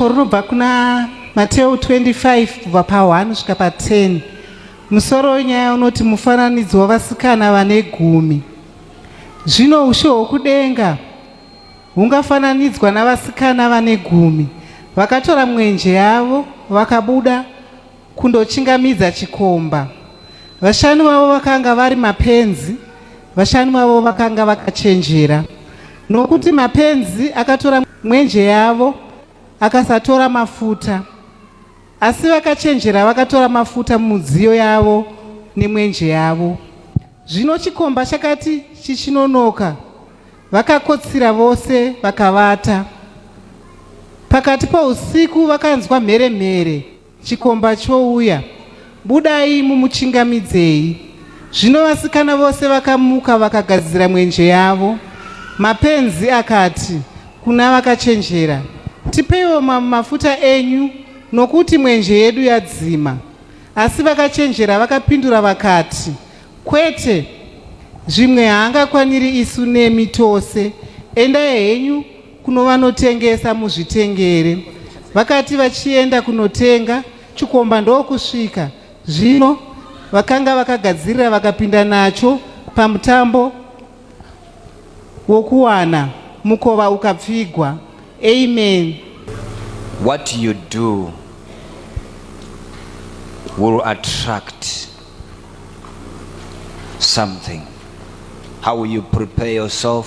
Shoko rinobva kuna Mateo 25 kubva pa1 svika pa10. Musoro wenyaya unoti mufananidzo wavasikana vane gumi. Zvino ushe hwokudenga hungafananidzwa navasikana vane gumi vakatora mwenje yavo vakabuda kundochingamidza chikomba. Vashanu vavo vakanga vari mapenzi, vashanu vavo vakanga vakachenjera, nokuti mapenzi akatora mwenje yavo akasatora mafuta, asi vakachenjera vakatora mafuta mumidziyo yavo nemwenje yavo. Zvino chikomba chakati chichinonoka, vakakotsira vose vakavata. Pakati pousiku vakanzwa mhere mhere Chikomba chouya. Budai mumuchingamidzei. Zvino vasikana vose vakamuka vakagadzira mwenje yavo. Mapenzi akati kuna vakachenjera, Tipeiwo mamwe mafuta enyu, nokuti mwenje yedu yadzima. Asi vakachenjera vakapindura vakati, Kwete, zvimwe haangakwaniri isu nemi tose. Endai henyu kunovanotengesa muzvitengere vakati vachienda kunotenga chikomba ndokusvika zvino vakanga vakagadzirira vakapinda nacho pamutambo wokuwana mukova ukapfigwa amen what you do will attract something how you prepare yourself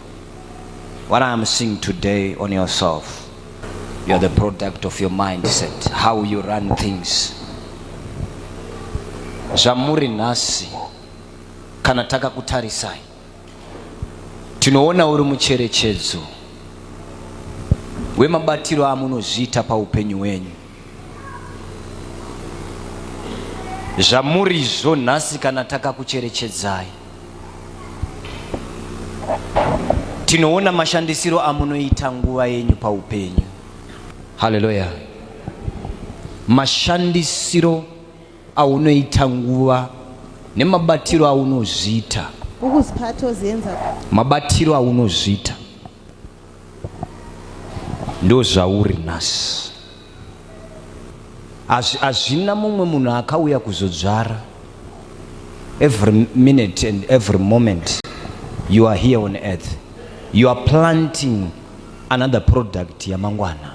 What I'm seeing today on yourself, you're the product of your mindset, how you run things. Zvamuri nhasi kana takakutarisai tinoona uri mucherechedzo wemabatiro amunozviita paupenyu hwenyu. Zvamurizvo nhasi kana takakucherechedzai tinoona mashandisiro amunoita nguva yenyu paupenyu haleluya mashandisiro aunoita nguva nemabatiro aunozviita mabatiro aunozviita ndozvauri nhasi hazvina mumwe munhu akauya kuzodzvara every minute and every moment you are here on earth you are planting another product yamangwana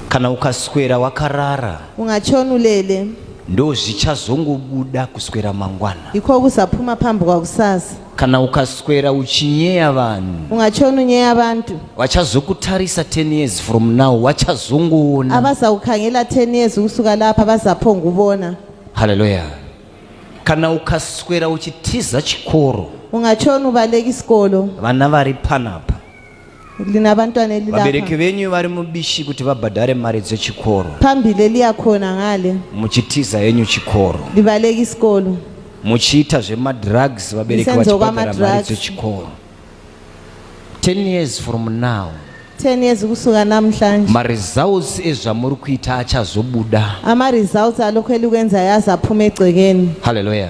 kana ukaswera wakarara ungachonulele ndo zvichazongobuda kuswera mangwana iko kusaphuma phambi kwakusasa kana ukaswera uchinyeya vanhu ungachonunyeya abantu vachazokutarisa 10 years from now vachazongoona abazakukhangela 10 years ukusuka lapha bazaphongubona haleluya kana ukaswera uchitiza chikoro ungachona ubaleka isikolo vana vari panapa linabantwana elilapha vabereki venyu vari mubishi kuti vabhadhare mari dzechikoro phambili eliyakhona ngale muchitiza henyu chikoro libaleka isikolo muchiita zvemadrugs vabereki Lisenzo vachibhadhara mari kwamadrugs. dzechikoro 10 years from now 10 years kusuka namhlanje maresults ezvamuri kuita achazobuda ama-results alokhu elikwenzayo azaphuma egcekeni haleluya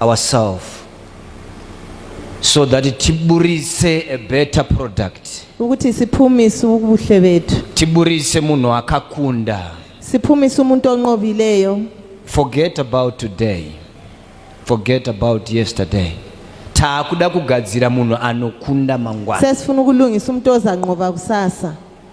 ourselves so that tiburitse a better product ukuthi siphumise ubuhle bethu tiburitse munhu akakunda siphumise umuntu onqobileyo forget about today forget about yesterday taakuda kugadzira munhu anokunda mangwana sesifuna ukulungisa umuntu ozanqoba kusasa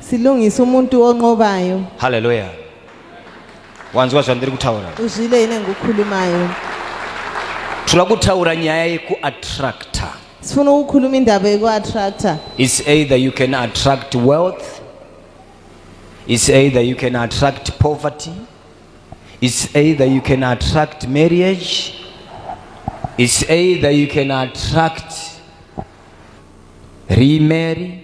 Silungisa umuntu onqobayo. Hallelujah. Wanzwa zvandiri kutaura? Uzwile ine ngukhulumayo. Tula kutaura nyaya yeku attractor. Sifuna ukukhuluma indaba yeku attractor. It's either you can attract wealth. It's either you can attract poverty. It's either you can attract marriage. It's either you can attract remarry.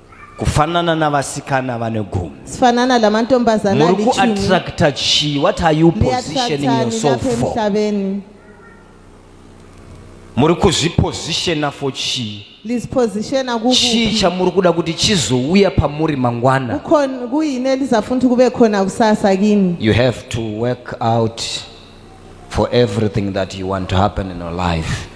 kufanana navasikana vane gumi sifanana lamantombazana muri kuattracta chii what are you positioning yourself for muri kuzvipositiona for chii chii chamuri kuda kuti chizouya pamuri mangwana kuine lizafuna kuti kuve khona kusasa kini you have to work out for everything that you want to happen in your life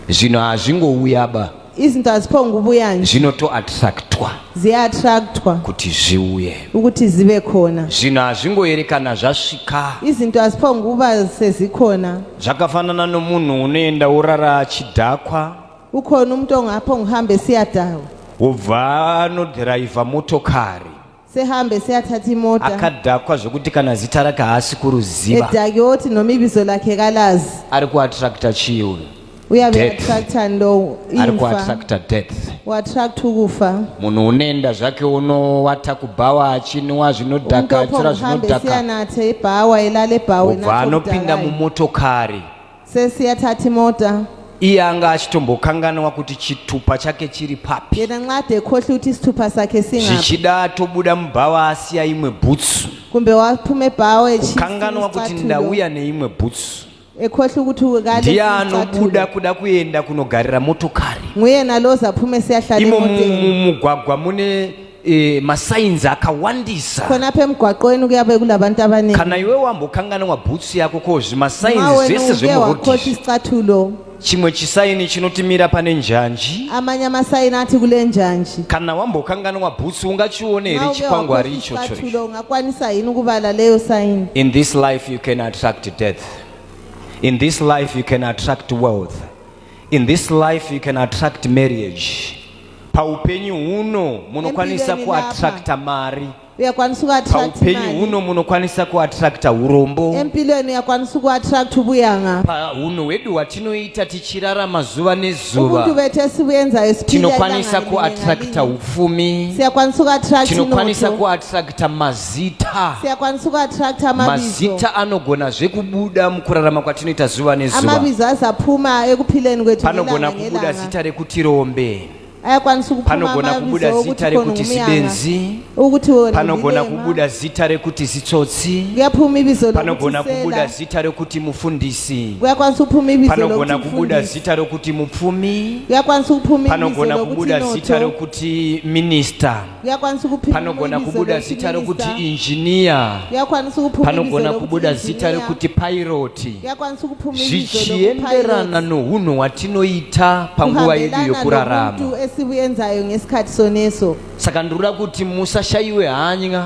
zvinhu hazvingouyaba izinto hazipongubuya nje zvinotoattractwa ziyaattractwa kuti zviuye ukuthi zibe khona zvinhu hazvingoyerekana zvasvika izinto haziphonguba sezikhona zvakafanana nomunhu unoenda worara achidhakwa ukhona umuntu ongaphonguhambe siyadakwa wobva anodhiraivha motokari sehambe seyathatha imota akadhakwa zvekuti kana zita rake haasi kuruziva edhake woti noma ibizo lakhe kalazi ari kuattracta chii uyu uye aveattracta ndo ari kuattracta death uattract ukufa munhu unoenda zvake unowata kubhawa achinwa zvinodhaka atsira zvinodhaka anathe ibhawa elale bhawa obva anopinda mumotokari Sesi ya Tati Mota. iye anga achitombokanganwa kuti chitupa chake chiri papi yena nxade ekhohle ukuthi isithupha sakhe singaphi zvichida atobuda mubhawa asiya imwe bhutsu kumbe waphuma ebhawa kukanganwa kuti ndauya neimwe bhutsu ekhohle ukuthi ndiye anobuda kuda kuenda kunogarira motokari nguyena loza aphume siyahlala imo mumugwagwa mune eh, masainzi akawandisa khona apha emgwaqweni kuyabe kulabantu abaningi kana iwe wambokanganwa bhutsu yako ko zvimasainzi ma wena zvese uke zvemurodhi wakhohlwa izvi. isicathulo chimwe chisaini chinotimira pane njanji amanye amasayini athi kule njanji kana wambokanganwa bhutsu ungachione here Ma uke chikwangwari wakhohlwa ichocho ichi? isicathulo ungakwanisa yini ukubala leyo sayini in this life you can attract death in this life you can attract wealth In this life you can attract marriage. Paupenyu huno munokwanisa kuattracta mari. Uyakwanisa kuattract mari. Paupenyu huno munokwanisa kuattracta urombo. Empilweni uyakwanisa kuattract ubuyanga. Paunhu hwedu hwatinoita tichirarama zuva nezuva. Ubuntu betesi buyenza esipira. Tinokwanisa kuattracta ufumi. Siyakwanisa kuattract Tinokwanisa kuattracta mazi. mazita siyakwanisa kuattracta mabizo mazita anogona zvekubuda mukurarama kwatinoita zuva nezuva amabizo azaphuma ekuphileni kwethu panogona kubuda zita rekuti rombe ayakwanisa kupanogonha kubuda zita rekuti sibenzi panogonha kubuda zita rekuti zitsotsi panogonha kubuda zita rekuti mufundisi panogonha kubuda zita rekuti mupfumi panogonha kubuda zita rekuti minista panogona kubuda zita rokuti injiniya panogona kubuda zita rokuti pairoti zvichienderana nounhu hwatinoita panguva yedu yokurarama saka ndinoda kuti musashayiwe hanya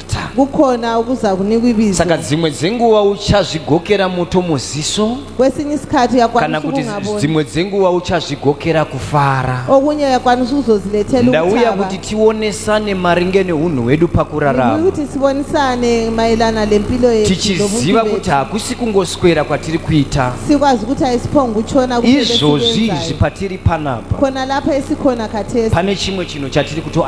kukhona okuzakunika ibizo saka dzimwe dzenguva uchazvigokera moto muziso kwesinye isikhathi uyakwanisa kuti dzimwe dzenguva uchazvigokera kufara okunye uyakwanisa ukuzozilethela ndauya kuti tionesane maringe neunhu hwedu pakurarama kuti sibonisane mayelana lempilo yetu tichiziva kuti hakusi kungoswera kwatiri kuita sikwazi ukuthi ayisiphonga utshona izvozvi izvi patiri panapa khona lapha esikhona khathesi pane chimwe chinhu chatiri kuto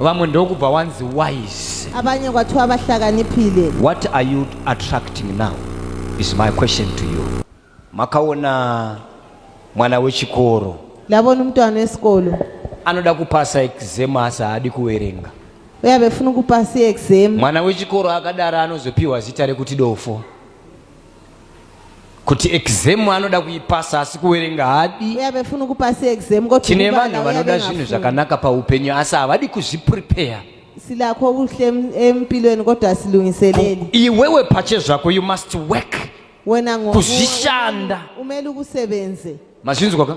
vamwe ndokubva wanzi wise abanye kwathiwa vahlakaniphile what are you attracting now is my question to you makaona mwana wechikoro ndabona umntwana wesikolo anoda kupasa exam asi haadi kuwerenga uye abefuna ukupasa iexam mwana wechikoro akadaro anozopiwa zita rekuti dofo kuti exam anoda kuipasa asi kuwerenga hadi tine vanhu vanoda zvinhu zvakanaka paupenyu asi havadi kuzviprepare silakho kuhle empilweni kodwa asilungiseleli iwewe phatshe zvakho you must work wena kuzvishanda umele ukusebenze mazvinzwa ka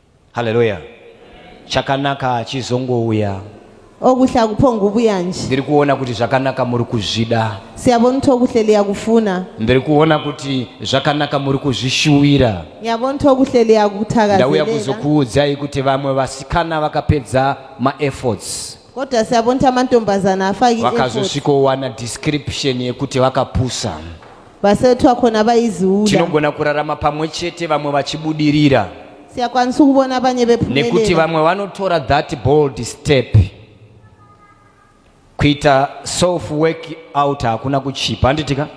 Haleluya. Chakanaka hachizongouya. Okuhle akuphongubuya nje. Ndiri kuona kuti zvakanaka muri kuzvida. Siyabona ukuthi okuhle liyakufuna. Ndiri kuona kuti zvakanaka muri kuzvishuwira. Ngiyabona ukuthi okuhle liyakuthakazelela. Ndauya kuzokuudzai kuti vamwe vasikana vakapedza maefforts. kodwa siyabona ukuthi amantombazana afake vakazosvikowana description yekuti vakapusa vasetwa khona vayiziwula tinogona kurarama pamwe chete vamwe vachibudirira siyakwanisa ukubona abanye bephumelela nekuti vamwe vanotora that bold step kuita self work out hakuna kuchipa handitika